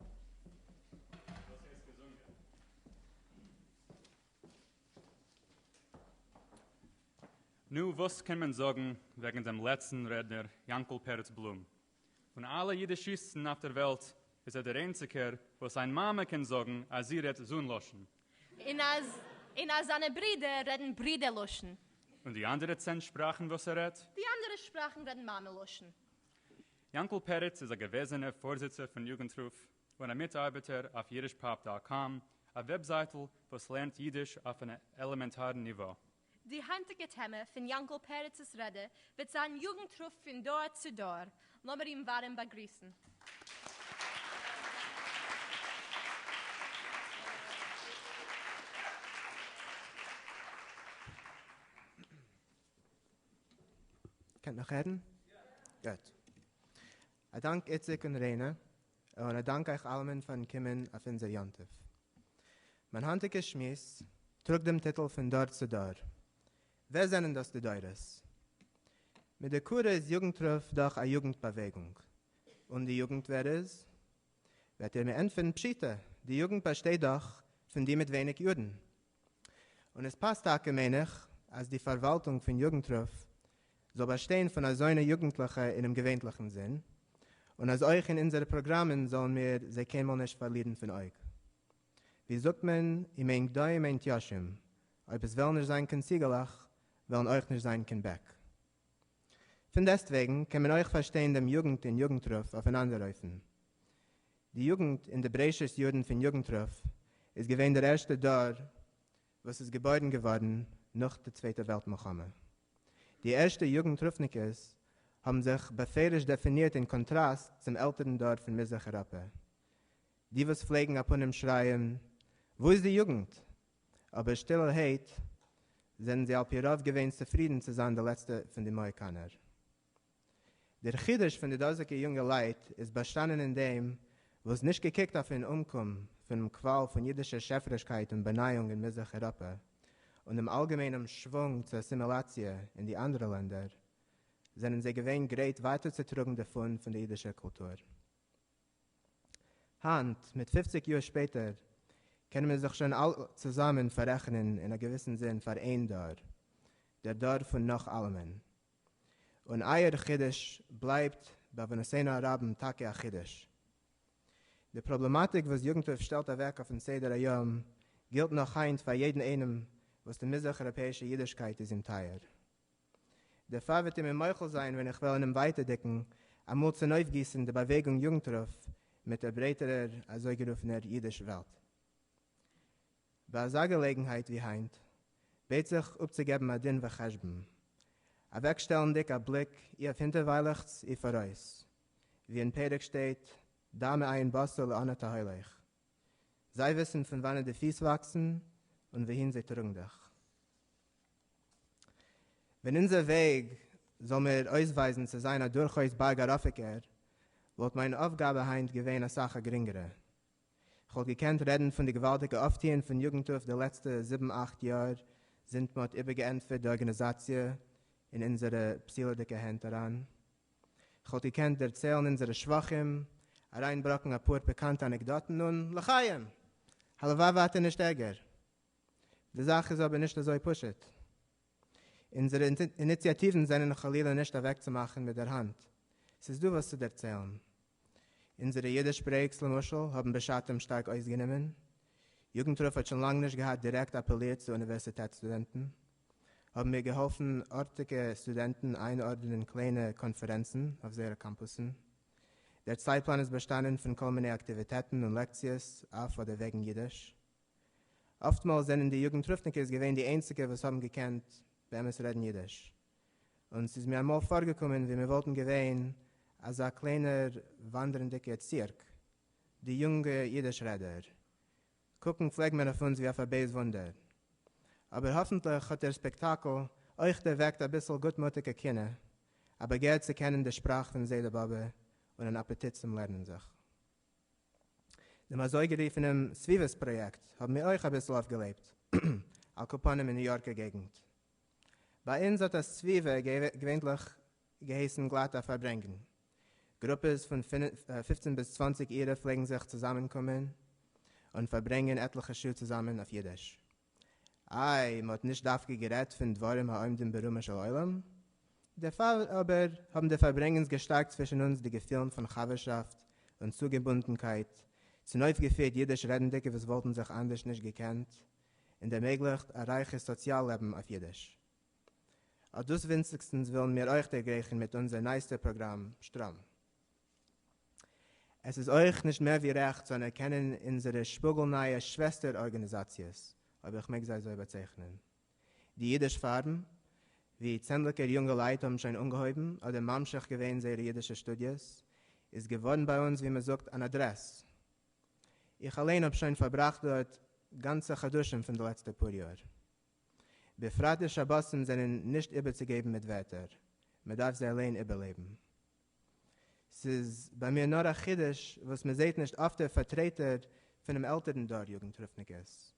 וואס הייסט געזונגען? נו, וואס קען מען זאגן וועגן דעם לעצטן רעדנער יאנקל פרץ בלום? פון אלע אידישיסטן אויף דער וועלט איז ער דער איינציגער וואס זיין מאמע קען זאגן אז זי רעדט זון לשון. און אז און אז זיינע ברידער רעדן ברידער לשון. און די אנדערע צען שפראכן וואס ער רעדט? די אנדערע שפראכן רעדן מאמע לשון. יאנקל פרץ איז א געוועזענע פארזיצער פון יוגנטרוף און א מיטארבעטער אויף יידישפאפ דאט קאם, א וועבזייטל וואס לערנט יידיש אויף אן עלעמענטארן ניווא. די היינטיגע טעמע פון יאנקל פרצ'ס רעדע וועט זיין יוגנטרוף פון דור צו דור. לאמיר אים ווארעם באגריסן. קענט נאך רעדן? גוט. א דאנק איציק און ריינע, און א דאנק אייך אלעמען פארן קומען אויף אונזער יום טוב. מיין היינטיגע שמועס טראגט דעם טיטל פון דור צו דור. ווער זענען דאס די דורות? מיט די קורא איז יוגנט רוף דאך א יוגנט באוועגונג. און די יוגנט ווער איז? וועט איר מיר ענטפערן פשיטא, די יוגנט באשטייט דאך פון די מיט ווייניג יארן, און עס פאסט טאקע מיין איך אז די פארוואלטונג פון יוגנטרוף זאל באשטיין פון אזוינע יוגנטליכע אינעם געווענטליכן זין, און אז אויך אין אונזערע פראגראמען זאלן מיר זיי קיינמאל נישט פארלירן פון אויג. ווי זאגט מען, אם אין גדיים אין תישים, אויב עס וועלן נישט זיין קיין ציגעלעך, וועלן אויך נישט זיין קיין בעק. פונדעסטוועגן קען מען אויך פארשטיין דעם יוגנט אין יוגנטרוף אויף אן אנדער אופן. די יוגנט אין די בראשית יארן פון יוגנטרוף איז געווען דער ערשטער דור וואס איז געבוירן געווארן נאך די צווייטע וועלט מלחמה. די ערשטע יוגנטרופניקעס האבן זיך בפירוש דעפינירט אין קאנטראסט צום עלטערן דור פון מזרח אייראפע. די וואס פלעגן אפנים שרייען וואו איז די יוגנט? אבער שטילערהייט זענען זיי על פי רוב געווען צופרידן צו זיין די לעצטע פון די מאהיקאנער. דער חידוש פון די דאזיגע יונגעלייט איז באשטאנען אין דעם, וואס נישט געקוקט אויפן אומקום פונעם קוואל פון אידישער שעפערישקייט און באנייאונג אין מזרח אירופא, און דעם אלגעמיינעם שוואונג צו אסימילאציע אין די אנדערע לענדער, זענען זיי געווען גרייט ווייטערצוטראגן די פאן פון די אידישער קולטור. היינט, מיט פופציג יאר שפעטער, קענען מיר זיך שוין אלע צוזאמען פאררעכענען אין א געוויסן זין פאר איין דור, דער דור פון נאך אלעמען, און אייער חידוש בלייבט בעוונותינו הרבים טאקע א חידוש. די פראבלעמאטיק וואס יגנ טוב שטעלט אוועק אויפן סדר היום גילט נאך היינט פאר יעדן איינעם וואס די מזרח אייראפעאישע אידישקייט איז אים טייער. דערפאר וועט איר מיר מוחל זיין ווען איך וועל אינעם ווייטערדיגן אמאל צונויפגיסן די באוועגונג יגנטרוף מיט דער ברייטערער אזויגערופענער אידיש וועלט. ביי אזא געלעגנהייט ווי היינט בעט זיך אפצוגעבן א דין וחשבון, אוועקשטעלנדיג א בליק אי אויף הינטערוויילעכטס אי פאראויס, ווי אין פרק שטייט דע מעיין בשר לאן אתה הולך, זיי וויסן פון וואנעט די פיס וואקסן און וואוהין זיי טראגן דיך. ווען אונזער וועג זאל מיר אויסווייזן צו זיין א דורכאויס בארג ארויפיקער, וואלט מיין אויפגאבע היינט געווען אסאך א גרינגערע. כ'וואלט געקענט רעדן פון די געוואלדיגע אויפטוען פון יוגנטרוף די לעצטע זיבן אכט יאר זינט מ'האט איבערגעענטפערט די ארגאניזאציע אין אונזערע פסול'דיגע הענט אריין. כ'וואלט געקענט דערציילן אונזערע שבחים, אריינבראקן אפאר פיקאנטע אנעקדאטן און, לחיים! הלוואי ווייטער נישט ערגער. די זאך איז אבער נישט אזוי פשוט. אונזערע איניציאטיוון זענען חלילה נישט אוועקצומאכן מיט דער האנט. ס'איז דא וואס צו דערציילן. אונזערע אידיש ברעיקס למשל האבן בשעתם שטארק אויסגענומען, יוגנטרוף האט שוין לאנג נישט געהאט דירעקט אפעלירט צו אוניווערסיטעט סטודענטן, האבן מיר געהאלפן ארטיגע סטודענטן איינארדענען קליינע קאנפערענצן אויף זייערע קאמפוסן. דער צייטפלאן איז באשטאנען פון כל מיני אקטיוויטעטן און לעקציעס אויף אדער וועגן אידיש. אפטמאל זענען די יוגנטרופניקעס געווען די איינציגע וואס האבן געקענט באמת רעדן אידיש. און ס'איז מיר אַמאָל פֿאָרגעקומען, װי מיר װאָלטן געװען אַזאַ קלײנער װאַנדערנדיקער צירק. די יונגע ייִדיש-רעדער קוקן, פֿלעג מען, אױף אונדז, װי אױף אַ בײז װוּנדער. אָבער האָפֿנטלעך האָט דער ספּעקטאַקל אױך דערװעקט אַ ביסל גוטמוטיקע קינאה, אַ באַגער צו קענען די שפּראַך פֿון זעדע-באָבע און אַן אַפּעטיט צום לערנען זיך. דעם אַזױגערופֿענעם סבֿיבֿות-פּראָיעקט האָבן מיר אױך אַ ביסל אױפֿגעלעבט, על-כּפּנים אין ניו-יאָרקער געגנט. ביי אונז האט א סביבה געווענליך געהייסן גלאט א פארברענגן. גרופעס פון פופצן ביז צוואנציג אירע פלעגן זיך צוזאמענקומען און פארברענגן עטליכע שעה צוזאמען אויף אידיש. איי, מ'האט נישט דווקא גערעדט פון דברים העומדים ברומו של עולם? דערפאר אבער האבן די פארברענגענס געשטארקט צווישן אונז די געפילן פון חבר'שאפט און צוגעבונדנקייט, צונויפגעפירט אידיש רעדנדיקע וואס וואלטן זיך אנדערש נישט געקענט און ערמעגליכט א רייכע סאציאל לעבן אויף אידיש. אט דאס ווינציגסטנס ווילן מיר אויך דערגרעכן מיט אונזער נייעסטער פראגראם שטראם. עס איז אויך נישט מער ווי רעכט צו אנערקענען אונזערע שפאגל-נייע שוועסטער ארגאניזאציעס, אויב איך מעג זיי אזוי באצייכענען, די אידיש פארום, ווי צענדליגער יונגעלייט האבן שוין אנגעהויבן אדער ממשיך געווען זייערע אידישע שטודיעס, איז געווארן ביי אונז ווי מען זאגט אן אדרעס, איך אליין האב שוין פארבראכט דארט גאנצע חדשים פון די לעצטע פאר יאר. בפרט די שבתים זענען נישט איבערצוגעבן מיט ווערטער, מען דארף זיי אליין איבערלעבן. ס'איז ביי מיר נאר א חידוש וואס מען זעהט נישט אפטער פארטרעטער פונעם עלטערן דור יוגנטרופניקעס.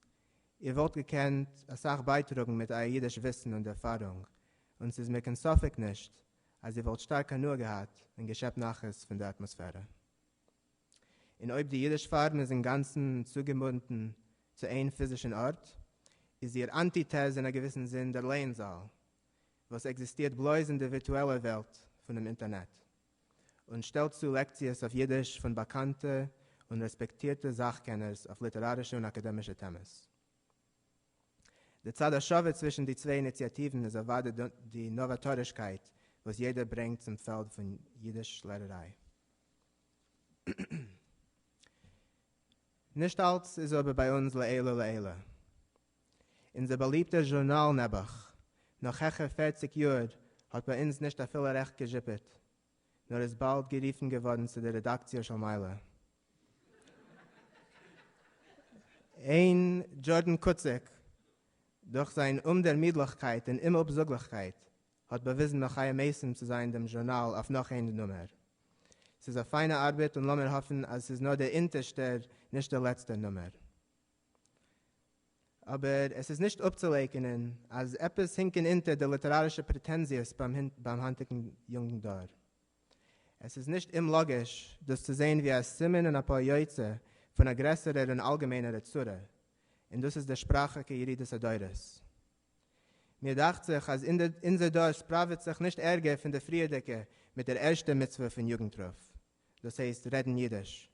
איר וואלט געקענט אסאך בייטראגן מיט אייער אידיש וויסן און ערפארונג, און ס'איז מיר קיין ספק נישט אז איר וואלט שטארק הנאה געהאט און געשעפט נחת פון די אטמאספערע. און אויב די אידיש פארם איז אינגאנצן צוגעבונדן צו איין פיזישן ארט, איז איר אנטיטעז אין א געוויסן זין דער לערנזאל, וואס עקזיסטירט בלויז אין די ווירטועלע וועלט פונעם אינטערנעט, און שטעלט צו לעקציעס אויף אידיש פון באקאנטע און רעספעקטירטע זאך-קענערס אויף ליטערארישע און אקאדעמישע טעמעס. די צד השווה צווישן די צוויי איניציאטיוון איז אוודאי די נאוואטארישקייט וואס יעדער ברענגט צום פעלד פון אידיש-לערעריי. נישט אלץ איז אבער ביי אונז לעילא לעילא. אונזער באליבטער זשורנאל נעבעך, נאך העכער פערציג יאר, האט ביי אונז נישט אפילו רעכט געזשיפעט, נאר איז באלד גערופן געווארן צו די רעדאקציע של מעלה. אין דזשורדען קוציק, דורך זיין אומדערמידליכקייט און אומאפזאגליכקייט, האט באוויזן נאך חיה מעשים צו זיין דעם זשורנאל אויף נאך איין נומער. ס'איז א פיינע ארבעט און לאמיר האפן אז ס'איז נאר דער אונטערשטער נישט דער לעצטער נומער. אבער עס איז נישט אפצולייקענען אז עפעס הינקען אונטער די ליטערארישע פרעטענזיעס ביים היינטיגן יונגן דור. עס איז נישט אומלאגיש דאס צו זען ווי א סימן און א פועל יוצא פון א גרעסערער און אלגעמעינערע צרה, און דאס איז דער שפראכיקע ירידת הדורות. מיר דאכט זיך אז אונזער דור ספראוועט זיך נישט ערגער פון די פריערדיגע מיט דער ערשטער מצוה פון יוגנטרוף, דאס הייסט רעדן אידיש.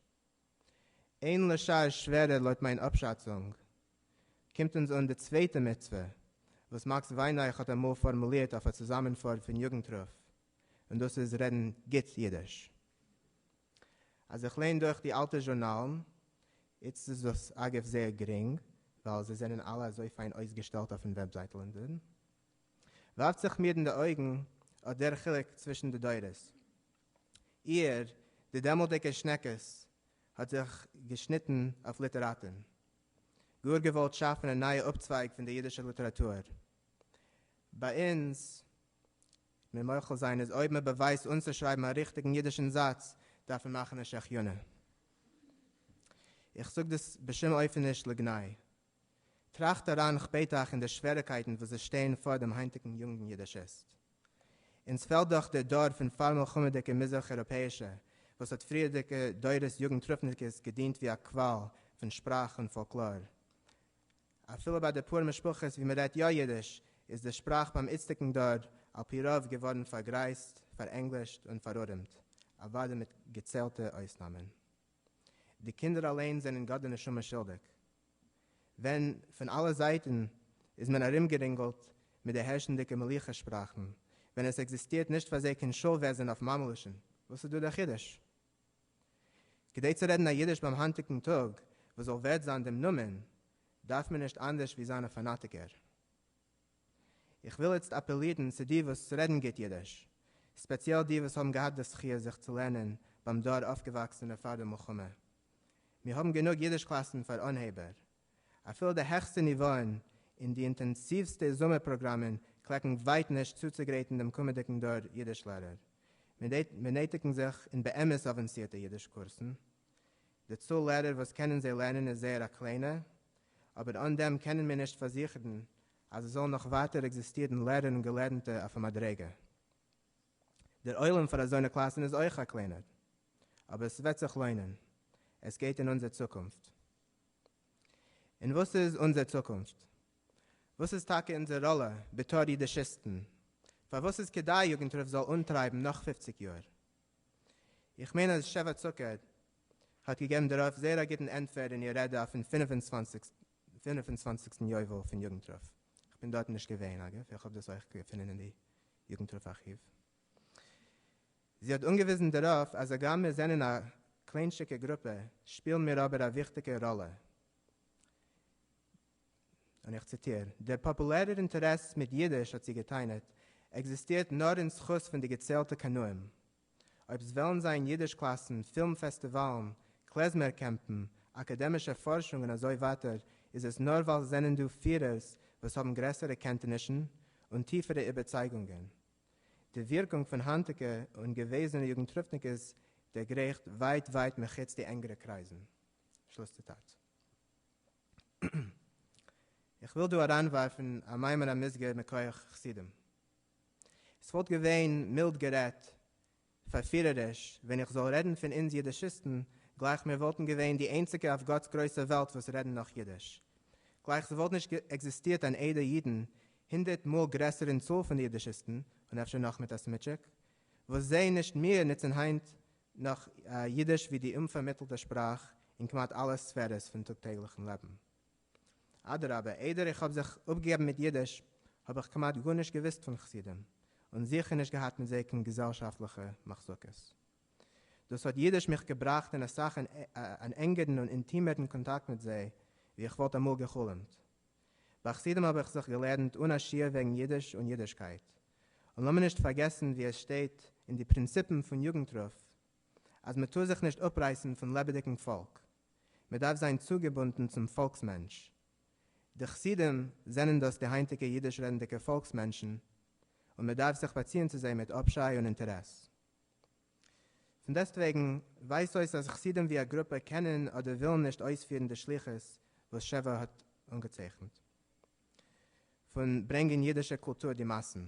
אין לשער שווערער לויט מיין אפשאצונג, קומט אונז אן די צווייטע מצוה, וואס מאקס וויינרייך האט אמאל פארמולירט אויף א צוזאמענפאר פון יוגנטרוף, און דאס איז רעדן גוט אידיש. אז איך ליין דורך די אלטע זשורנאלן, איצט איז דאס אגב זייער גרינג ווייל זיי זענען אלע אזוי פיין אויסגעשטעלט אויפן וועבזייטל און דאן ווארפט זיך מיר אין די אויגן אט דער חילוק צווישן די דורות. איהר, די דעמאלטדיגע שנעקעס, האט זיך געשניטן אויף ליטעראטן. גאר געוואלט שאפן א נייע אפצווייג פון די אידישע ליטעראטור. ביי אונז מיר מוחל זיין איז אויב מען באווייזט אנצושרייבן א ריכטיגן אידישן זאץ דארף מען מאכן א שהחיינו. איך זאג דאס בשום אופן נישט לגנאי. טראכט אריין כ'בעט אייך אין די שוועריקייטן וואס עס שטייען פאר דעם היינטיגן יונגן אידישיסט. אונז פעלט דאך דער דור פון פאר מלחמה'דיגע מזרח אירופאישע וואס האט פריערדיגע דורות יוגנטרופניקעס געדינט ווי א קוואל פון שפראך און פאלקלאר. אפילו ביי די פאר משפחות וואו מ'רעדט יא אידיש, איז די שפראך ביים איצטיגן דור על פי רוב געווארן פארגרייזט, פארענגלישט און פארארעמט, אוואדע מיט געציילטע אויסנאמען. די קינדער אליין זענען גאט די נשמה שולדיג. ווען פון אלע זייטן איז מען ארומגערינגלט מיט די הערשנדיגע מלוכה שפראכן, ווען עס עקזיסטירט נישט פאר זיי קיין שול וועזן אויף מאמעלישן, וואס איז דא דער חידוש? כדי צו רעדן א אידיש ביים היינטיגן טאג וואס זאל ווערד זיין דעם נאמען, דארף מען נישט אנדערש ווי זיין א פאנאטיקער. איך וויל איצט אפעלירן צו די וואס רעדן גוט אידיש, ספעציעל די וואס האבן געהאט די זכיה זיך צו לערנען ביים דור אויפגעוואקסענע פאר די מלחמה. מיר האבן גענוג אידיש קלאסן פאר אנהייבער, אפילו די העכסטע ניוואען אין די אינטענסיווסטע זומער פראגראמען קלעקן ווייט נישט צוצוגרייטן דעם קומעדיגן דור אידיש לערער. מיר נעטיגן זיך אין באמת אווענסירטע אידיש קורסן. די צאל לערער וואס קענען זיי לערנען איז זייער א קליינע, אבער אן דעם קענען מיר נישט פארזיכערן אז עס זאלן נאך ווייטער עקזיסטירן לערער און געלערנטע אויף א מדריגה. דער עולם פאר אזוינע קלאסן איז אויך א קליינער, אבער עס וועט זיך לוינען, עס גייט אין אונזער צוקונפט. און וואס איז אונזער צוקונפט? וואס איז טאקע אונזער ראלע בתור אידישיסטן? פארוואס איז כדאי יוגנט רב זאל אנטרייבן נאך פופציג יאר? איך מיין אז שבע צוקער האט געגעבן דערויף זייער א גוטן ענטפער אין איר רעדע אויפן פֿינף און צוואַנציק צוואנציגסטן יובל פון יוגנט רב, איך בין דארטן נישט געווען אגב, איך האב דאס אויך געפונען אין די יוגנט רב ארכיוו. זי האט אנגעוויזן דערויף אז הגם מיר זענען א קליינטשיגע גרופע שפילן מיר אבער א וויכטיגע ראלע, און איך ציטיר, דער פאפולערער אינטערעס מיט אידיש, האט זי גע'טענה'ט, עקזיסטירט נאר אין זכות פון די געציילטע קנאים. אויב ס'וועלן זיין אידיש קלאסן, פילם פעסטיוואלן, קלעזמער קעמפן, אקאדעמישע פארשונג און אזוי ווייטער איז עס נאר ווייל ס'זענען דא פירערס וואס האבן גרעסערע קענטענישן און טיפערע איבערצייגונגען. די ווירקונג פון היינטיגע און געוועזענע יוגנטרופניקעס דערגרייכט ווייט ווייט מחוץ די ענגערע קרייזן. שלוס ציטאט. איך וויל דא אריינווארפן א מאמר המוסגר מכח חסידים. עס וואלט געווען, מילד גערעדט, פֿאַרפֿירעריש, ווען איך זאָל רעדן פֿון אונדז ייִדישיסטן, גלײַך מיר וואָלטן געווען די איינציקע אויף גאָטס גרויסע וועלט וואָס רעדן נאָך ייִדיש. גלײַך ס'וואָלט נישט עקזיסטירט אַן עדה ייִדן, הונדערט מאָל גרעסער אין צאָל פֿון די ייִדישיסטן, און אפֿשר נאָך מיט אַ סמיטשיק, וואָס זיי, נישט מיר, נוצן היינט נאָך ייִדיש ווי די אומפֿאַרמיטלטע שפּראַך אין כּמעט אַלע ספֿערעס פֿון טאָג-טעגלעכן לעבן. אדרבה, איידער איך האב זיך אפגעגעבן מיט אידיש, האב איך כמעט גארנישט געוואוסט פון חסידים, און זיכער נישט געהאט מיט זיי קיין געזעלשאפטליכע מחלוקות. דאס האט אידיש מיך געבראכט אין אסאך אן ענגערן און אינטימערן קאנטאקט מיט זיי ווי איך וואלט אמאל גע'חלומ'ט. ביי חסידים האב איך זיך געלערנט אן א שיעור וועגן אידיש און אידישקייט. און לאמיר נישט פארגעסן ווי עס שטייט אין די פרינציפן פון יוגנטרוף אז מ'טאר זיך נישט אפרייסן פון לעבעדיגן פאלק. מען דארף זיין צוגעבונדן צום פאלקס מענטש. די חסידים זענען דאס די היינטיגע אידיש רעדנדיגע פאלקס מענטשן, און מען דארף זיך באציען צו זיי מיט אפשיי און אינטערעס. פון דעסטוועגן ווייזט אויס אז חסידים ווי א גרופע קענען אדער ווילן נישט אויספירן די שליחות וואס ש ו האט אנגעצייכנט, פון ברענגען אידישע קולטור די מאסן.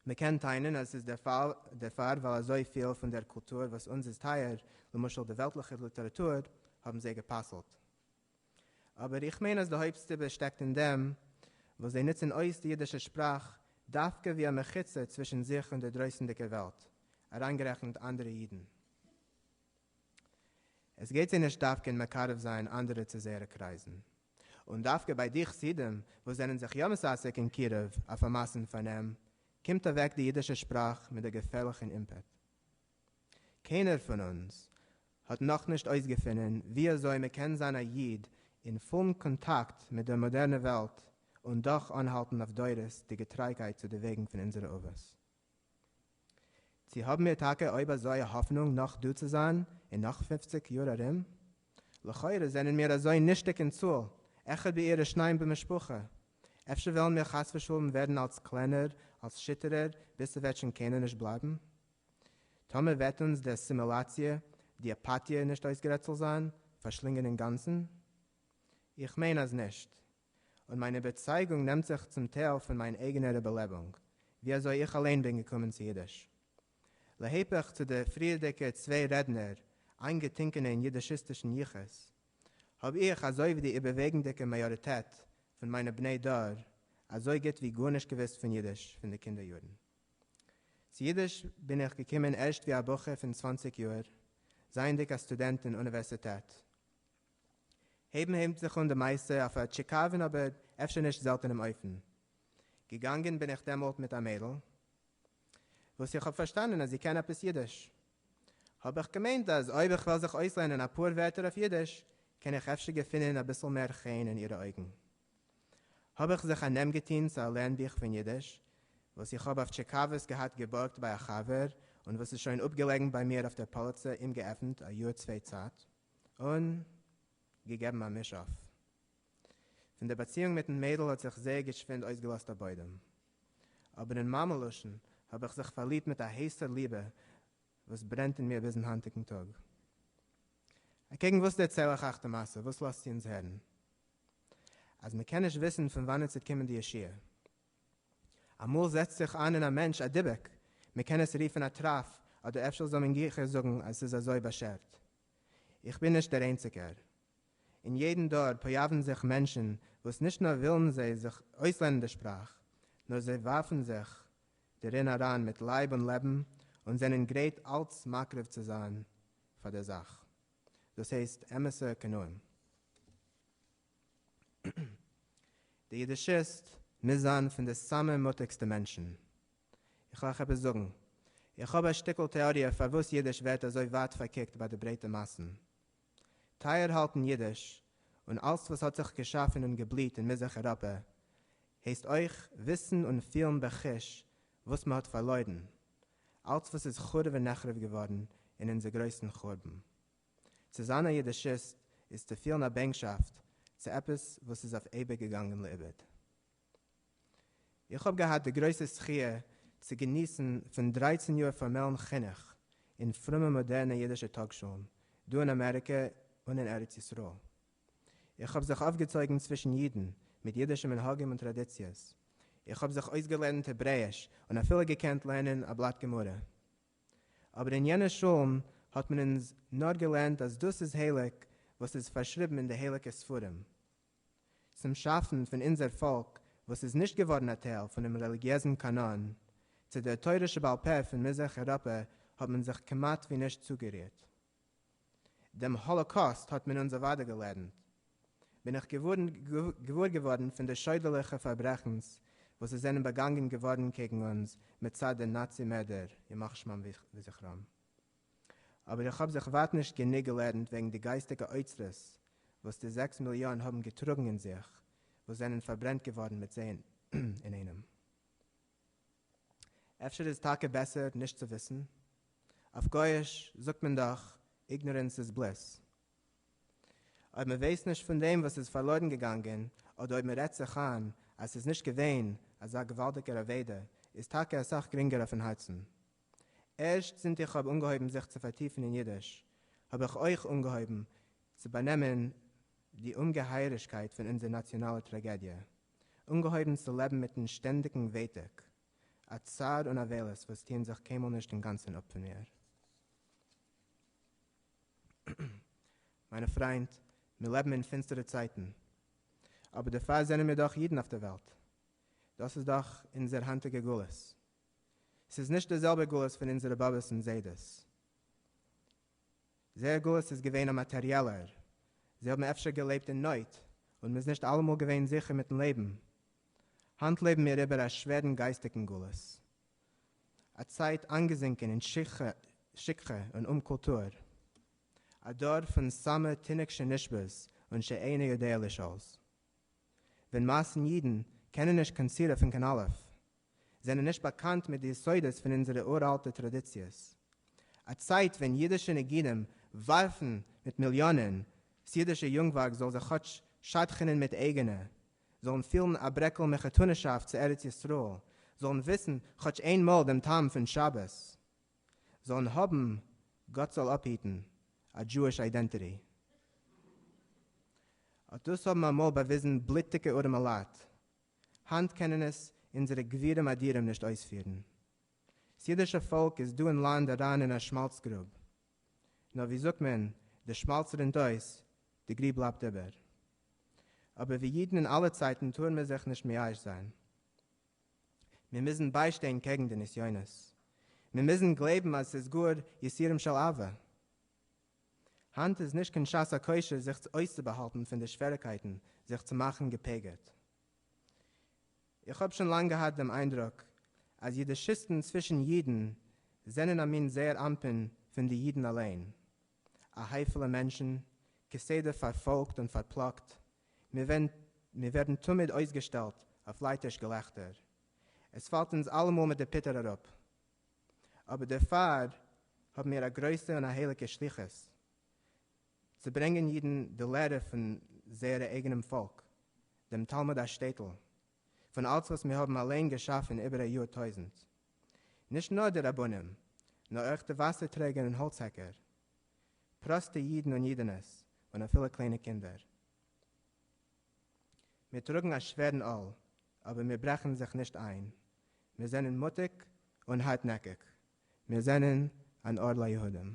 מ'קען טענה'ן אז עס איז דערפאר ווייל אזוי פיל פון דער קולטור וואס אונז איז טייער, למשל די וועלטליכע ליטעראטור, האבן זיי גע'פסל'ט. אבער איך מיין אז די הויפט סיבה שטעקט אין דעם וואס זיי נוצן אויס די אידישע שפראך דווקא ווי א מחיצה צווישן זיך און דער דרויסנדיגער וועלט, אריינגערעכנט אנדערע אידן. עס גייט זיי נישט דווקא אין מקרב זיין אנדערע צו זייערע קרייזן. און דווקא ביי די חסידים וואס זענען זיך יא מססק אין קירוב אויף א מאסן פארנעם, קומט אוועק די אידישע שפראך מיט א געפערליכן אימפעט. קיינער פון אונז האט נאכנישט אויסגעפונען ווי אזוי מען קען זיין א איד אין פולן קאנטאקט מיט דער מאדערנער וועלט און דאך אנהאלטן אויף דורות די געטרייגקייט צו די וועגן פון אונזערע אבות. צו האבן מיר טאקע אויב אזוי א האפענונג נאך דא צו זיין אין נאך פֿופֿציק יאר ארום? לכאורה זענען מיר אזוי נישטיג אין צאל, אחד בעיר ושניים במשפחה, אפשר וועלן מיר חס ושלום ווערן אלס קלענער, אלס שיטערער, ביז ס'וועט שוין קיינער נישט בלייבן? טאמער וועט אונז די אסימילאציע, די אפאטיע נישט אויסגערעצל זיין, פארשלינגען אינגאנצן? איך מיין אז נישט. און מיין איבערצייגונג נעמט זיך צום טייל פון מיין אייגענער איבערלעבונג, ווי אזוי איך אליין בין געקומען צו אידיש. להיפך צו די פריערדיגע צוויי רעדנער, איינגעטינקענע אין אידישיסטישן יחוס, האב איך, אזוי ווי די איבערוועגנדיגע מאיאריטעט פון מיינע בני דור, אזוי גוט ווי גארנישט געוואוסט פון אידיש פון די קינדער יארן. צו אידיש בין איך געקומען ערשט ווי א בחור פון צוואנציג יאר, זייענדיג א סטודענט אין אוניווערסיטעט. הייבן הייבט זיך אן די מעשה אויף א טשיקאווען אבער אפשר נישט זעלטענעם אופן. געגאנגען בין איך דעמאלט מיט א מיידל וואס איך האב פארשטאנען אז זי קען עפעס אידיש. האב איך געמיינט אז אויב איך וועל זיך אויסלערנען אפאר ווערטער אויף אידיש קען איך אפשר געפינען אביסל מער חן אין אירע אויגן. האב איך זיך א נעם געטוהן צו א לערן בוך פון אידיש וואס איך האב אויף טשיקאוועס געהאט געבארגט ביי א חבר און וואס איז שוין אפגעלעגן ביי מיר אויף דער פאליצע אומגעעפנט א יאר צוויי צייט. און געגעבן א מיש אויף. פון דער באציאונג מיטן מיידל האט זיך זייער געשווינד אויסגעלאזט א בוידעם. אבער אין מאמע לשון האב איך זיך פארליבט מיט א הייסער ליבע וואס ברענט אין מיר ביזן היינטיגן טאג. אקעגן וואס דערצייל איך אייך די מעשה? וואס לאזט זי אונז הערן? אז מ'קען נישט וויסן פון וואנעט ס'וועט קומען די ישועה. אמאל זעצט זיך איין אין א מענטש א דיבוק, מען קען עס רופן א טראף, אדער אפשר זאל מען גיכער זאגן אז עס איז אזוי באשערט. איך בין נישט דער איינציגער. אין יעדן דור פאיאווען זיך מענטשן וואס נישט נאר ווילן זיי זיך אויסלערנען די שפראך, נאר זיי ווארפן זיך דערין אריין מיט לייב און לעבן און זענען גרייט אלץ מקריב צו זיין פאר דער זאך. דאס הייסט אמת'ע קנאים. די אידישיסט מוז זיין פון די סאמע מוטיגסטע מענטשן. איך וועל אייך עפעס זאגן. איך האב א שטיקל טעאריע פארוואס אידיש ווערט אזוי ווייט פארקוקט ביי די ברייטע מאסן. טייער האלטן אידיש, און אלץ וואס האט זיך געשאפן און געבליהט אין מזרח אירופע, הייסט אויך וויסן און פילן בחוש וואס מ'האט פארלוירן, אלץ וואס איז חרוב ונחרב געווארן אין אונזער גרויסן חורבן. צו זיין א יידישיסט איז צו פילן א בענקשאפט צו עפעס וואס איז אויף אייביג געגאנגען לאיבוד. איך האב געהאט די גרויסע זכי' צו געניסן פון דרייצן יאר פארמעלן חינוך אין פרומע מאדערנע אידישע טאגשולן דא אין אמעריקע און אין ארץ ישראל. איך האב זיך אויפגעצויגן צווישן אידן מיט אידישע מנהגים און טראדיציעס. איך האב זיך אויסגעלערנט העברעיש און אפילו געקענט לערנען א בלאט גמרא. אבער אין יענע שולן האט מען אונז נאר געלערנט אז דאס איז הייליג וואס איז פארשריבן אין די הייליגע ספרים. צום שאפן פון אונזער פאלק וואס איז נישט געווארן א טייל פונעם רעליגיעזן קאנאן, צו דער תורה שבעל פה פון מזרח אירופה האט מען זיך כמעט ווי נישט צוגערירט. דעם האָלאָקאָסט האָט מען אונדז אַוודאי געלערנט, בין איך געוואָר געוואָרן פֿון די שוידערלעכע פֿאַרברעכנס, וואָס עס זענען באַגאַנגען געוואָרן קעגן אונדז מצד די נאַצי-מערדער, ימח שמם וזכרם. אָבער איך האָב זיך ווײַט נישט גענוג געלערנט וועגן די גײַסטיקע אוצרות, וואָס די זעקס מיליאָן האָבן געטראָגן אין זיך, וואָס זענען פֿאַרברענט געוואָרן מיט זיי אינאיינעם. אפשר איז טאקע בעסער נישט צו וויסן? אויף גויאיש זאגט מען דאך איגנארענס איז בליס. אויב מען ווייסט נישט פון דעם וואס איז פארלוירן געגאנגען, אדער אויב מען רעדט זיך איין אז ס'איז נישט געווען אזא געוואלדיגער אבידה, איז טאקע אסאך גרינגער אויפן הארצן. ערשט זינט איך האב אנגעהויבן זיך צו פארטיפן אין אידיש, האב איך אויך אנגעהויבן צו באנעמען די אומגעהייערישקייט פון אונזער נאציאנאלע טראגעדיע. אנגעהויבן צו לעבן מיטן שטענדיגן ווייטאג, א צער און אבילות וואס טוען זיך קיינמאל נישט אינגאנצן אפ פון מיר. מיינע פריינט, מיר לעבן אין פינסטערע צייטן, אבער דערפאר זענען מיר דאך אידן אויף דער וועלט, דאס איז דאך אונזער היינטיגע גלות, ס'איז נישט די זעלבע גלות פון אונזערע באבעס און זיידעס, זייער גלות איז געווען א מאטעריעלער, זיי האבן אפשר געלעבט אין נויט און מ'איז נישט אלעמאל געווען זיכער מיט'ן לעבן. היינט לעבן מיר איבער א שווערן גייסטיגן גלות, א צייט איינגעזינקען אין שכחה און אומקולטור, א דור פון סאמע תינוק שנשבז און שאינו יודע לשאול. ווען מאסן אידן קענען נישט קיין סי' אויפ'ן קיין אלף, זענען נישט באקאנט מיט די יסודות פון אונזערע אור-אלטע טראדיציעס. א צייט ווען אידישע נגידים ווארפן מיט מיליאנען, ס'אידישע יונגווארג זאל זיך כאטש שדכנ'ען מיט אייגענע, זאלן פילן א ברעקל מחותנ'שאפט צו ארץ ישראל, זאלן וויסן כאטש איין מאל דעם טעם פון שבת, זאלן האבן, גאט זאל אפהיטן, א דזשואיש איידענטיטי. אט דאס האבן אמאל באוויזן בלוטיגע ארעמעלייט, היינט קענען עס אונזערע גבירים אדירים נישט אויספירן. ס'אידישע פאלק איז דא אין לאנד אריין אין א שמאלץ גרוב. נאר ווי זאגט מען, די שמאלץ רינט אויס, די גריב בלייבט איבער. אבער ווי אידן אין אלע צייטן טאר מען זיך נישט מייאש זיין. מיר מוזן ביישטיין קעגן די נסיונות. מיר מוזן גלייבן אז ס'איז גאר יסירם של אהבה. היינט איז נישט קיין שעת הכושר זיך אויסצובאהאלטן פון די שוועריקייטן זיך צו מאכן געפגר'ט. איך האב שוין לאנג געהאט דעם איינדרוק אז אידישיסטן צווישן אידן זענען א מין זעיר אנפין פון די אידן אליין, א הייפעלע מענטשן, כסדר פארפאלגט און פארפלאגט, מיר ווערן תמיד אויסגעשטעלט אויף לייטיש געלעכטער, עס פאלט אונז אלעמאל מיט די פיטער אראפ, אבער דערפאר האבן מיר א גרויסע און א הייליגע שליחות, צו ברענגען אידן די לערע פון זייערע אייגענעם פאלק, דעם תלמוד השטעטל, פון אלץ וואס מיר האבן אליין געשאפן איבער א יאר טויזנט. נישט נאר די רבנים, נאר אויך די וואסער טרעגער און האלץ העקער, פראסטע אידן און אידענעס, און אפילו קליינע קינדער. מיר טראגן א שווערן עול, אבער מיר ברעכן זיך נישט איין. מיר זענען מוטיג און הארטנעקיג. מיר זענען אן אור ליהודים.